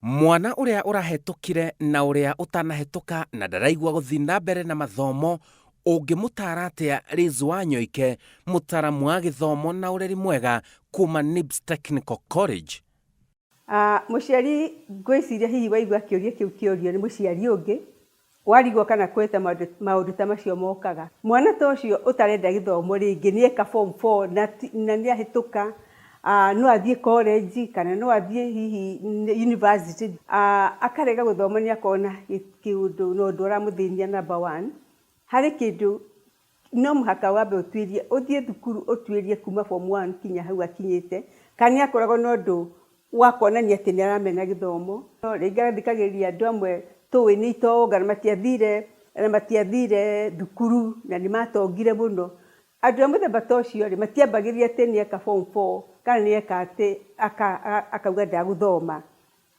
Mwana ũrĩa ũrahetũkire na ũrĩa ũtanahetũka na ndaraigua gũthiĩ na mbere na mathomo ũngĩmũtaara atĩa Liz Wanyoike mũtaaramu wa gĩthomo na ũreri mwega kuma NIBS Technical College? Mũciari ngwĩciria hihi waigua kĩũria kĩu kĩũrio nĩ mũciari ũngĩ Warigwo kana kwĩhĩta maũndũ ta macio mokaga. Mwana ta ũcio ũtarenda gĩthomo rĩngĩ nĩ eka form four na nĩ ahĩtũka, no athiĩ college kana no athiĩ hihi university, akarega gũthoma nĩ akona kĩũndũ na ũndũ ũramũthĩnia number one, harĩ kĩndũ No mũhaka wambe ũtuĩrie, ũthiĩ thukuru ũtuĩrie kuma form one kinya hau akinyĩte, kana nĩ akoragwo na ũndũ wa kuonania atĩ nĩ aramena gĩthomo. No rĩngĩ agathikagĩrĩria andũ amwe tũũĩ nĩ itonga na matiathire, na matiathire thukuru na nĩ matongire mũno. Andũ a mũthemba ta ũcio rĩ, matiambagĩrĩria atĩ nĩ eka form four kana nĩ eka atĩ, akauga ndagũthoma.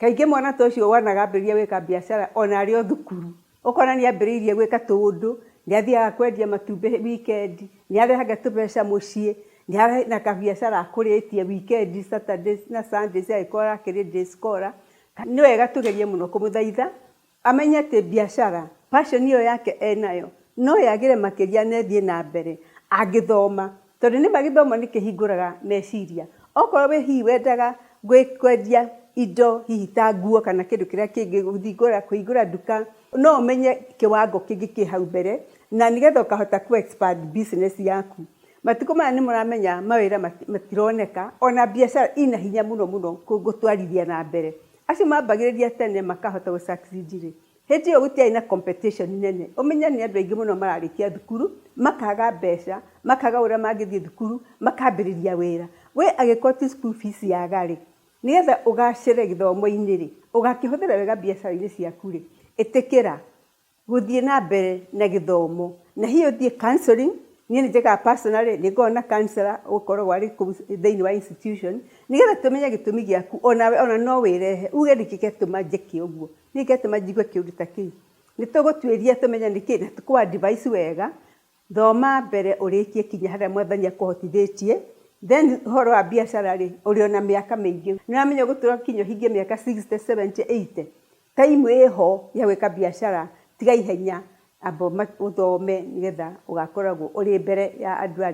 Kaingĩ mwana ta ũcio wonaga ambĩrĩria gwĩka biacara o na arĩ o thukuru. Ũkona nĩ ambĩrĩirie gwĩka tũũndũ, nĩ athiaga kwendia matumbĩ wikendi, nĩ arehaga tũbeca mũciĩ, nĩ arĩ na kabiacara akũrĩtie wikendi, Saturdays na Sundays angĩkorwo arakĩrĩ day scholar. Nĩ wega tũgerie mũno kũmũthaitha Amenye atĩ biacara, passion ĩyo yake enayo, no yagĩre makĩria na ĩthiĩ na mbere angĩthoma. Tondũ nĩma gĩthomo nĩ kĩhingũraga meciria. Okorwo wĩ hihi wendaga kwendia indo hihi ta nguo kana kĩndũ kĩrĩa kĩngĩ, kũhingũra kũhingũra nduka, no ũmenye kĩwango kĩngĩ kĩ hau mbere, na nĩgetha ũkahota kũ expand business yaku. Matukũ maya nĩ mũramenya mawĩra matironeka, ona biacara ina hinya mũno mũno gũtwarithia na mbere. Acio mambagĩrĩria tene makahota gũ succeed rĩ, hĩndĩ ĩyo gũtiarĩ na competition nene. Ũmenye nĩ andũ aingĩ mũno mararĩkia thukuru, makaga mbeca, makaga ũrĩa mangĩthiĩ thukuru, makambĩrĩria wĩra. We angĩkorwo ti school fees yaga rĩ, nĩgetha ũgacĩre gĩthomo-inĩ rĩ, ũgakĩhũthĩra wega mbiacara-inĩ ciaku rĩ, ĩtĩkĩra gũthiĩ na mbere na gĩthomo na hihi ũthiĩ counselling, niĩ nĩ njĩkaga personally, nĩ ngoragwo na counsellor ũkoragwo arĩ kũu thĩinĩ wa institution, nĩgetha tũmenye gĩtũmi gĩaku, onawe ona no wĩrehe uge nĩkĩ gĩatũma njĩke ũguo, nĩkĩ gĩatũma njigue kĩũndũ ta kĩu. Nĩ tũgũtuĩria tũmenye nĩkĩ na tũkũ advice wega Thoma mbere ũrĩkie kinya harĩa mwathani akũhotithĩtie then ũhoro wa biacara rĩ ũrĩ ona mĩaka mĩingĩ nĩũramenya ũgũtũra kinya ũhingie mĩaka sixty, seventy, eighty time ĩho ya gwĩka biacara tiga ihenya amba ũthome nĩgetha ũgakoragwo ũrĩ mbere ya andũ arĩa.